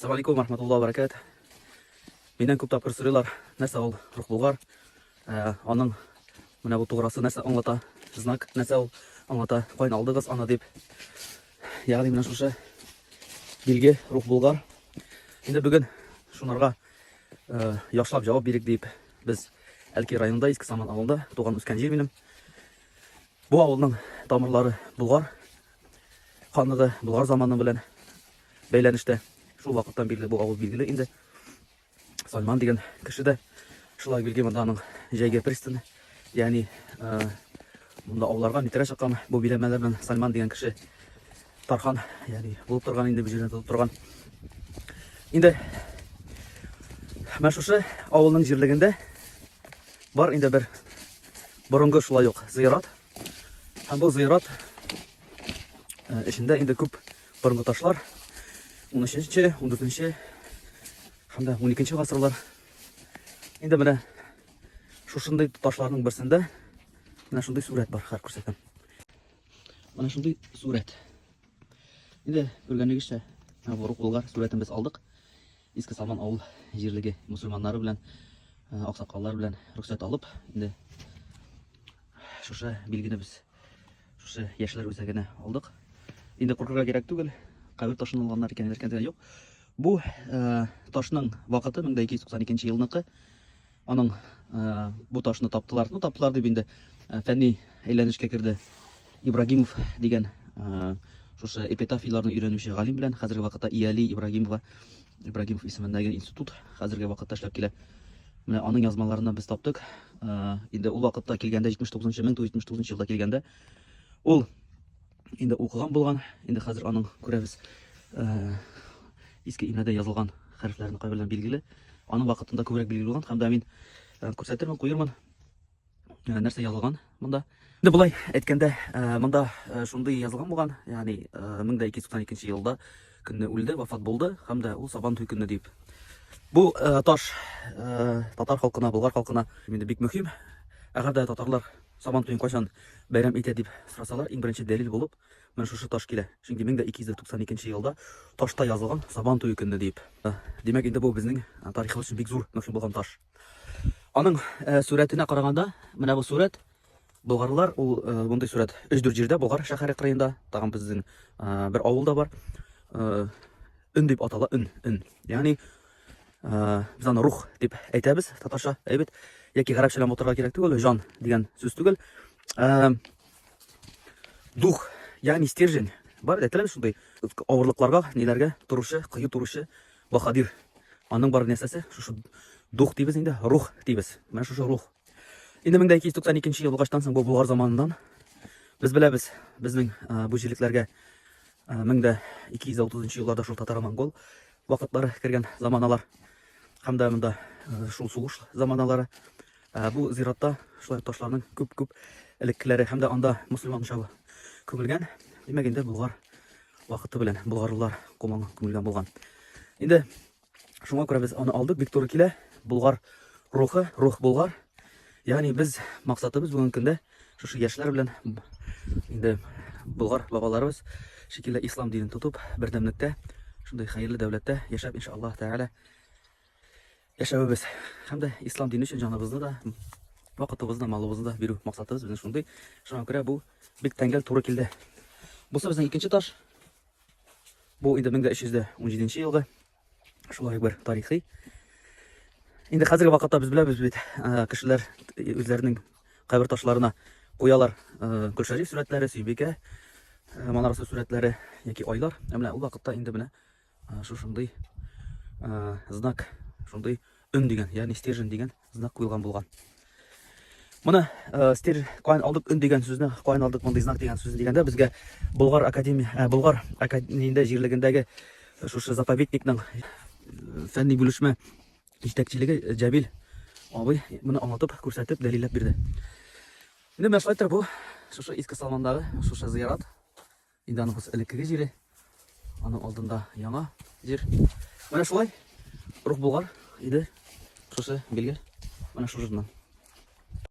Салам алейкум, рахматулла баракат. Миннән күп тапкыр сорыйлар, нәрсә ул рухбулгар? Э, аның менә бу туграсы нәрсә аңлата? Знак нәрсә ул аңлата? Кайны алдыгыз аны дип. Ягъни менә шушы билге рухбулгар. Инде бүген шунарга э, яхшылап җавап бирик дип без Әлки районында Иске Саман авылында туган үскән җир минем. Бу авылның тамырлары булгар Ханлыгы Болгар заманы белән бәйләнештә. Шул вакыттан бирле бу авыл билгеле инде. Сайман дигән кеше дә шулай билгеле монда аның җәйге пристаны, ягъни монда ауларга митрә чыккан бу биләмәләр белән Сайман дигән кеше тархан, ягъни булып торган инде бу җирдә тотып торган. Инде Менә шушы авылның җирлегендә бар инде бер борынгы шулай ук зыярат, Һәм бу зыйрат эчендә инде күп борынгы ташлар 13-нче, 14-нче һәм дә 12-нче гасырлар. Инде менә шушындый ташларның берсендә менә шундый сурәт бар, хәзер күрсәтәм. Менә шундый сурәт. Инде күргәнегезчә, менә бу рукулгар сурәтен без алдык. Иске Салман авыл җирлеге мусульманнары белән, аксакаллар белән рөхсәт алып, инде шушы билгене без шушы яшьләр үзәгенә алдык. Инде куркырга кирәк түгел, кабер ташын алганнар икән, әйткәндә юк. Бу ташның вакыты 1292 елныкы. Аның ә, бу ташны таптылар. Ну, таптылар дип инде ә, фәнни әйләнешкә керде. Ибрагимов дигән ә, шушы эпитафияләрне өйрәнүче галим белән хәзерге вакытта Иали Ибрагимова Ибрагимов исемендәге институт хәзерге вакытта эшләп килә. Менә аның язмаларына без таптык. Ә, инде ул вакытта килгәндә 79 1979 елда килгәндә ул Инде укыган булган, инде хәзер аның күрәбез иске имәдә язылган хәрефләрне кайберләр билгеле. Аның вакытында күбрәк билгеле булган һәм дә мин күрсәтермен, куермын. Нәрсә язылган монда? Инде болай әйткәндә, монда шундый язылган булган, ягъни 1292 елда көнне үлде, вафат булды һәм дә ул Сабан туй көнне дип. Бу таш татар халкына, болгар халкына инде бик мөһим. Әгәр дә татарлар Сабан туен кайчан бәйрәм итә дип сорасалар, иң беренче дәлил булып менә шушы таш килә. Чөнки 1292 нче елда ташта язылган Сабан туе көнне дип. Димәк, инде бу безнең тарихыбыз өчен бик зур мөһим булган таш. Аның э, сурәтенә караганда, менә бу сурәт болгарлар, ул э, мондый сурәт 3-4 җирдә, Болгар шәһәре кырыенда, тагын безнең э, бер авылда бар. Өн дип атала, өн, өн. Ягъни Э, без аны рух дип әйтәбез татарча әйбет яки гарәпчәләп мотырга кирәк түгел жан дигән сүз түгел э, дух ягъни стержень бар әйтеләме шундый авырлыкларга ниләргә торучы кыю торучы баһадир аның бар нәрсәсе шушы дух дибез инде рух дибез менә шушы рух инде мең дә ике йөз туксан икенче ел булгачтан соң бу болгар заманыннан без беләбез безнең э, бу җирлекләргә мең дә ике йөз дә утызынчы елларда шул татар монгол вакытлары кергән заманалар һәм дә монда шул сугыш заманалары. Бу зиратта шулай ташларның күп-күп элеккеләре һәм дә анда мөселман учагы күмелгән. Димәк, инде Болгар вакыты белән болгарлылар команы күмелгән булган. Инде шуңа күрә без аны алдык, бик туры килә. Болгар рухы, рух болгар. Ягъни без максатыбыз бүгенге көндә Шушы яшьләр белән инде болгар бабаларыбыз шикелле ислам динен тотып, бердәмлектә, шундый хәерле дәүләттә яшәп, иншаллаһ тәгалә, яшәвебез һәм дә ислам дине өчен җаныбызны да, вакытыбызны, малыбызны да бирү максатыбыз безнең шундый. Шуңа күрә бу бик тәңгәл туры килде. Бусы безнең икенче таш. Бу инде 1317 елгы Шулай бер тарихи. Инде хәзерге вакытта без беләбез бит, кешеләр үзләренең кабер ташларына куялар Гөлшәриф сүрәтләре, Сөйбикә манарасы сүрәтләре яки айлар. Ә менә ул вакытта инде менә шушындый знак, шундый өн дигән, ягъни стержень дигән Знак куелган булган. Моны э, стер каян алдык өн дигән сүзне, каян алдык мондый знак дигән сүзне дигәндә безгә Болгар академия, э, Болгар академиясендә җирлегендәге э, шушы заповедникның фәнни бүлешмә җитәкчелеге Җәбил абый моны аңлатып, күрсәтеп, дәлилләп бирде. Менә менә шулай бу шушы Иске Салмандагы шушы зыярат Иданыбыз элеккеге җире, аның алдында яңа җир. Менә шулай рух булгар иде шушы билгель. Менә шушыннан.